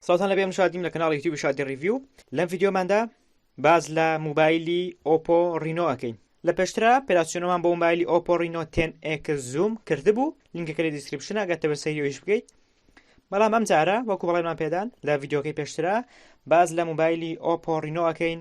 سڵاوتان لەبێ من شادیم لە کەناڵی یوتیوبی شادی ڕیڤیو لەم ڤیدیۆماندا باز لە موبایلی ئۆپۆ ڕینۆ ئەەکەین لە پێشترا پێراسیۆنەمان بۆ موبایلی ئۆپۆ ڕینۆ تێن ئێکس زووم کردبوو لینکەکە لە دیسکرپشن ئەگەتەوە سەیریۆیش بکەیت بەڵام ئەم جارە وەکو بەڵێمان پێدان لە ڤیدیۆکەی پێشترا باز لە موبایلی ئۆپۆ ڕینۆ ئەەکەین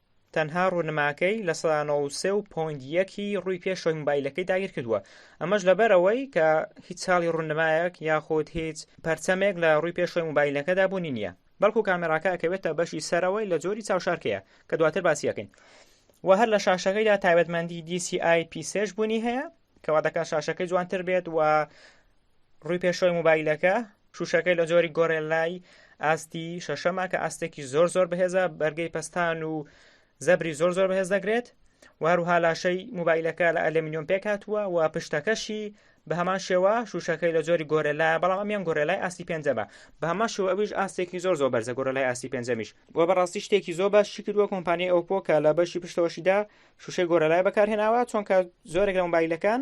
تەنها ڕونماکەی لە سەدا نەوەد و سێ و پۆینت یەکی ڕووی پێشەوەی مۆبایلەکەی داگیر کردووە ئەمەش لەبەرەوەی کە هیچ چاڵی ڕونمایەک یاخود هیچ پەرچەمێک لە ڕووی پێشەوەی مۆبایلەکەدا بوونی نییە بەڵکو کامێراکە ئەکەوێتە بەشی سەرەوەی لە جۆری چاوشارکەیە کە دواتر باسیەکەین و هەر لە شاشەکەیدا تایبەتمەندی DCI P3 بوونی هەیە کەوا دەکات شاشەکەی جوانتر بێت و ڕووی پێشەوەی موبایلەکە شوشەکەی لە جۆری گۆرێلای ئاستی شەشەمە کە ئاستێکی زۆر زۆر بەهێزە بەرگەی پستان و زەبری زۆر زۆر بەهێز دەگرێت وهروها لاشەی موبایلەکە لە ئەلمینیۆم پێکاتوە و پشتەکەشی بە هەمان شێوە شوشەکەی لە جۆری گۆرەلا بەڵام ئەمیان گۆرەلای ئاستی پێنجەمە بە هەمان شێوە ئەویش ئاستێکی زۆر زۆر بەرزە گۆرەلای ئاستی پێنجەمیش بۆ بەڕاستی شتێکی زۆر باش شکردووە کۆمپانیای ئەو پۆکە لە بەشی پشتەوەشیدا شوشەی گۆرەلای بەکارهێناوە چۆنکە زۆرێک لە مبایلەکان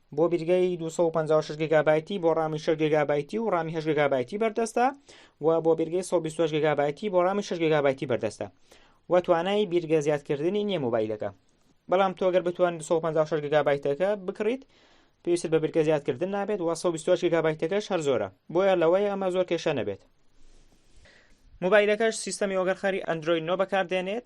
بۆ بیرگەی 256 گگابایتی بۆ ڕامی 6 گگابایتی و ڕامی 8 گگابایتی بەردەستە و بۆ بیرگەی 128 گگابایتی بۆ ڕامی 6 گگابایتی بەردەستە و توانای بیرگە زیادکردنی نییە مۆبایلەکە بەڵام تۆ گەر بتوان 256 گگابایتەکە بکڕیت پێویست بە بیرگە زیادکردن نابێت و 128 گگابایتەکەش هەر زۆرە بۆیە لەوەی ئەمە زۆر کێشە نەبێت مۆبایلەکەش سیستەمی وەگەرخەری ئەندروید نۆ بەکاردێنێت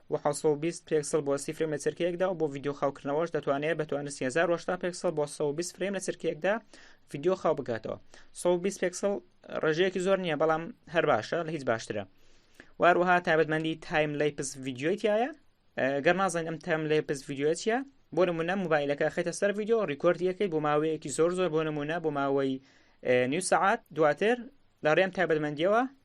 بۆ حەوت سەد و بیست پێکسڵ بۆ سی فرێم لە چرکەیەکدا و بۆ ڤیدیۆ خاوکردنەوەش دەتوانێت بە توانستی 1080 پێکسڵ بۆ 120 فرێم لە چرکەیەکدا ڤیدیۆ خاو بکاتەوە 120 پێکسڵ ڕێژەیەکی زۆر نییە بەڵام هەر باشە لە هیچ باشترە واروها تایبەتمەندی تایم لای پس ڤیددیوی تایە گەر نازانین ئەم تام لای پس ڤیددیوە چیە بۆ نمونە موبایلەکە خێتە سەر ڤیددیو ڕیکۆردیەکەی بۆ ماوەیەکی زۆر زۆر بۆ نمونە بۆ ماوەی نیو سعات دواتر لە ڕێم تایبەتمەندیەوە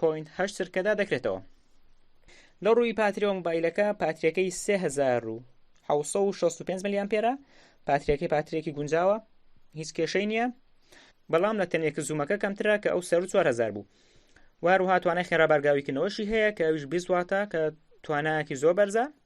پۆینت هەشت سرکەدا دەکرێتەوە لە ڕووی پاتریەوە موبایلەکە پاتریەکەی 1965 ملیان پێرە پاتریەکەی پاترێکی گونجاوە هیچ کێشەی نییە بەڵام لە تەنێک زوومەکە کەمترە کە ئەو سەر 4000 بوو وهروها توانای خێرا بارگاویکردنەوەشی هەیە کە ئەوش بیزواتە کە توانایەکی زۆر بەرزە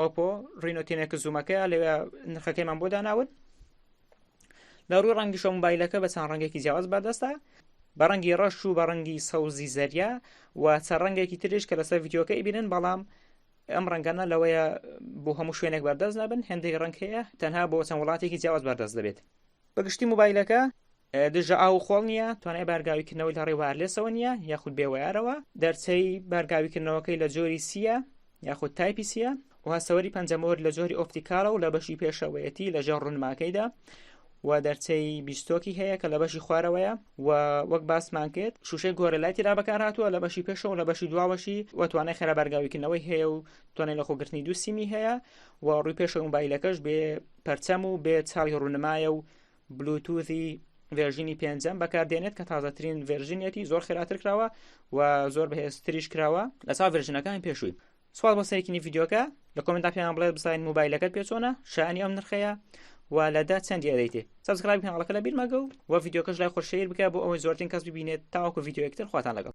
ئۆپۆ ڕینۆ تینێکە زوومەکەیە لەوێ نرخەکەیمان بۆ داناون لە ڕووی ڕەنگیشە موبایلەکە بە چەند ڕەنگێکی جیاواز بەردەستە بە ڕەنگی ڕەش و بە ڕەنگی سەوزی زەریا و چە ڕەنگێکی تریش کە لەسەر یددیوکە ئیبینن بەڵام ئەم ڕەنگەنە لەوەیە بۆ هەموو شوێنێک بەردەست نابن هەندێک ڕەنگ هەیە تەنها بۆ چەند وڵاتێکی جیاواز بەردەست دەبێت بە گشتی موبایلەکە دژە ئاو و خۆڵ نییە توانای بارگاویکردنەوەی لە ڕێ وارلێسەوە نییە یاخود بێ وارەوە دەرچەی بارگاویکردنەوەکەی لە جۆری سیە یاخود تایپی سیە و هەسەوەری پەنجەمۆر لە جۆری ئۆپتیکاڵە و لە بەشی پێشەوەیەتی لە ژێر ڕونماکەیدا و دەرچەی بیستۆکی هەیە کە لە بەشی خوارەوەیە و وەک باسمان کرد شوشەی گۆرەلاتی را بەکار هاتووە لە بەشی پێشەوە لە بەشی دواوەشی و توانای خێرا بەرگاویکردنەوەی هەیە و توانای لە خۆگرتنی دوو سیمی هەیە و ڕووی پێشە موبایلەکەش بێ پەرچەم و بێ چاوی ڕونمایە و بلوتوزی ڤێژینی پێنجەم بەکاردێنێت کە تازەترین ڤێژنیەتی زۆر خێراتر کراوە و زۆر بەهێزتریش کراوە لە چاو ڤێژنەکانی پێشووی سوال بۆ سەرکینی یددیوکە لە کۆمنتا پێیان بڵێت بزانین موبایلەکەت پێ چۆنە شانی ئەم نرخەیە و لەدا چەند یادەیتێ سەبسکرایب کەناڵەکە لە بیرمەگە و وە یددیوکەش لای خۆشەیر بکە بۆ ئەوەی زۆرترین کەس ببینێت تاوەکو یددیوەکتر خواتان لەگەڵ